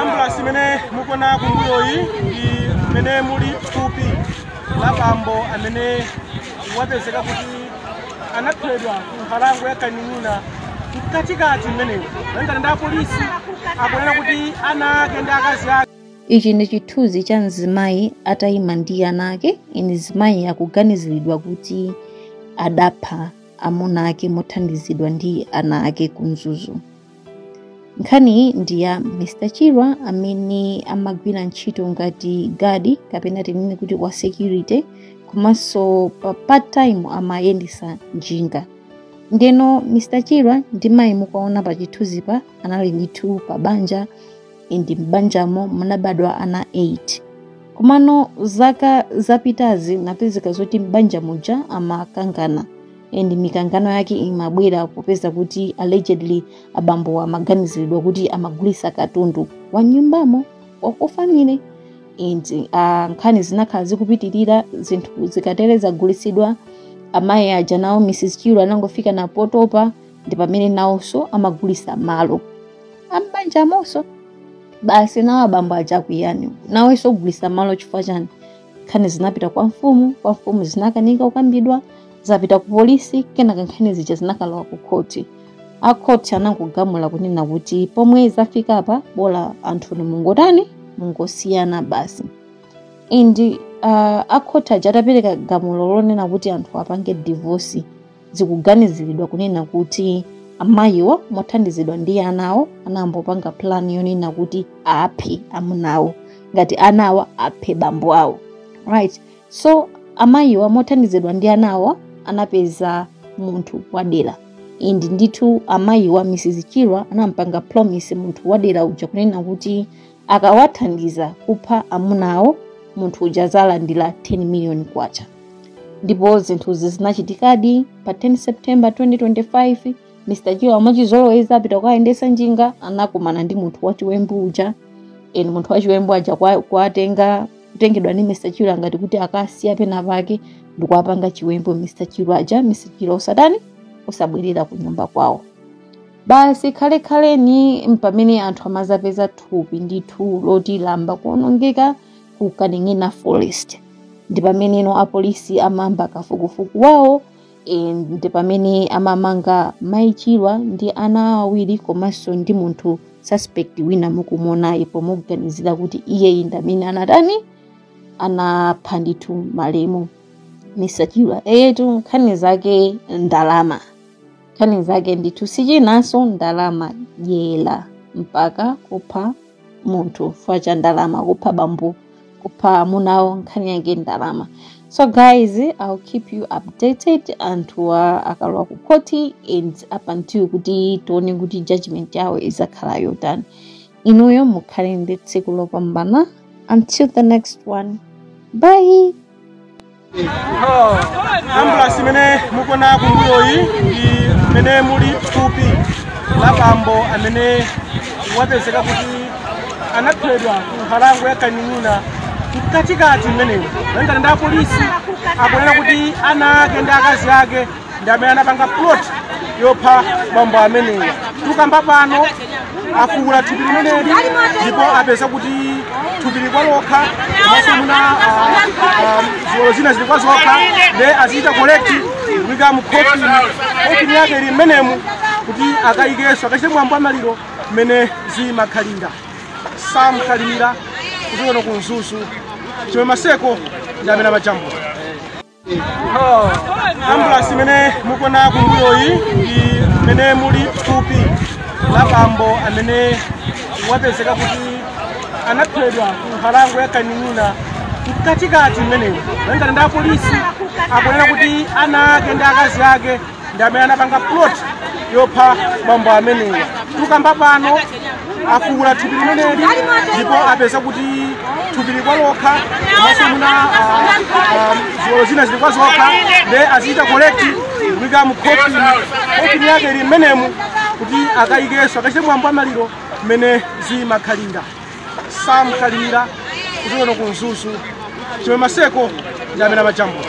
ambulasi imene mukuona kumbuyoyi ndi imene muli thupi la bambo amene wapezeka kuti anaphedwa ku nkhalango ya kaning'ina mkatikati mmenemo malingana ndi apolisi akunena kuti ana ake ndi akazi ake ichi ndi chithunzi cha mzimayi atayima ndi ana ake and mzimayi akuganiziridwa kuti adapha amuna ake mothandizidwa ndi ana ake ku mzuzu nkhaniyi ndi ya mr chirwa amene amagwira ntchito ngati gadi kapena tinene kuti wa security komanso pa part time amayendesa njinga ndeno mr chirwa ndi mayi mukuwaona pa chithunzipa anali ndithu pa banja and m'banjamo munabadwa ana 8 komano zaka zapitazi inapezeka zoti m'banja muja amakangana and mikangano yake imabwera popeza kuti allegedly abambo amaganiziridwa kuti amagulisa katundu wa m'nyumbamo wa kufamily and uh, nkhani zinakhala zikupitirira zinthu zikatere zagulisidwa amayi aja nawo mrs chirwa anangofika napo potopa ndi pamene nawonso amagulisa malo a m'banjamonso basi nawo abambo aja akuyamba nawonso kugulisa malo chifukwa chani nkhani zinapita kwa mfumu kwa mfumu zinakanika kukambidwa zapita ku polisi kenaka nkhani zija zinakalowa ku khoti a khoti anangogamula kunena kuti pomwe zafika apa bola anthu inu mungotani mungosiyana basi and uh, a khoti aja atapereka gamulo lonena kuti anthuwa apange divorce zikuganiziridwa kunena kuti amayiwo mothandizidwa ndi anawo anayamba kupanga plan yonena kuti aphe amunawo ngati anawa aphe bambo awo right so amayiwa mothandizidwa ndi anawo anapeza munthu wadera and ndithu amayiwa mrs chirwa anampanga promise munthu wadera uja kunena kuti akawathandiza kupha amuna awo munthu uja azalandira 10 million kwacha ndipo zinthuzi zinachitikadi pa 10 september 2025 mr chirwa mwachizolowezi apita kukayendesa njinga anakumana ndi munthu wachiwembu uja and munthu wachiwembu uja kwa- kuwatenga kutengedwa ndi mr chirwa ngati kuti akasiya pena pake ndikuwapanga chiwembu mr chirwa aja mr chirwa osatani osabwerera ku nyumba kwawo basi khalekhaleni mpamene anthu amazapeza thupi ndithu loti layamba kuonongeka ku kaning'ina forest ndi pameneno apolisi amayamba kafukufuku wawo e, ndi pamene amamanga mai chirwa ndi ana awo awiri komanso ndi munthu suspect wina mukumuonayi pomuganizira kuti iyeyi ndi amene anatani anapha ndithu malemu mr chirwa eyetu nkhani zake ndalama nkhani zake ndithu sichinanso ndalama dyera mpaka kupha munthu chifukwa cha ndalama kupha bambo kupha amunawo nkhani yake ndalama so guys i'll keep you updated anthuwa akalowa ku khoti and up until kuti tione kuti judgment yawo izakhala yotani inuyo mukhale ndi tsiku lopambana until the next one bye ambulasi imene mukuona kumbuyoyi ndi imene muli thupi la bambo amene wapezeka kuti anaphedwa ku nkhalango ya kaning'ina mkatikati mmenemo malingana ndi apolisi akunena kuti ana ake ndi akazi ake ndi amene anapanga plot yopha bambo amenewa tukamba pano afukula thupi limeneli ndipo apeza kuti thupi likwa lokha komanso muna ziwalo zina zili kwa zokha nde azichita collect kuika mu khofini khofini yake ili mmenemu kuti akayikenso akachite mwambo wa maliro mmene zimakhalira sam kalimira kuchokera kuno ku mzuzu chimwemwe maseko ndi amene amajambula ambulasi imene mukuona kumbuyoyi ndi imene muli thupi la bambo amene wapezeka kuti anaphedwa ku nkhalango ya kaning'ina mkatikati mmenemo malingana ndi apolisi akunena kuti ana ake ndi akazi ake ndi amene anapanga plot yopha bambo amenewa tukamba pano afukula thupi limeneli ndipo apeza kuti thupi likwa lokha komanso muna ah, ah, ziwalo zina zili kwa zokha nde azichita collect kuika mu khofini khofini yake ili mmenemu kuti akayikenso akachite mwambo wa maliro mmene zimakhalira sam kalimira kuchokera kuno ku mzuzu chimwemwe maseko ndi amene amajambula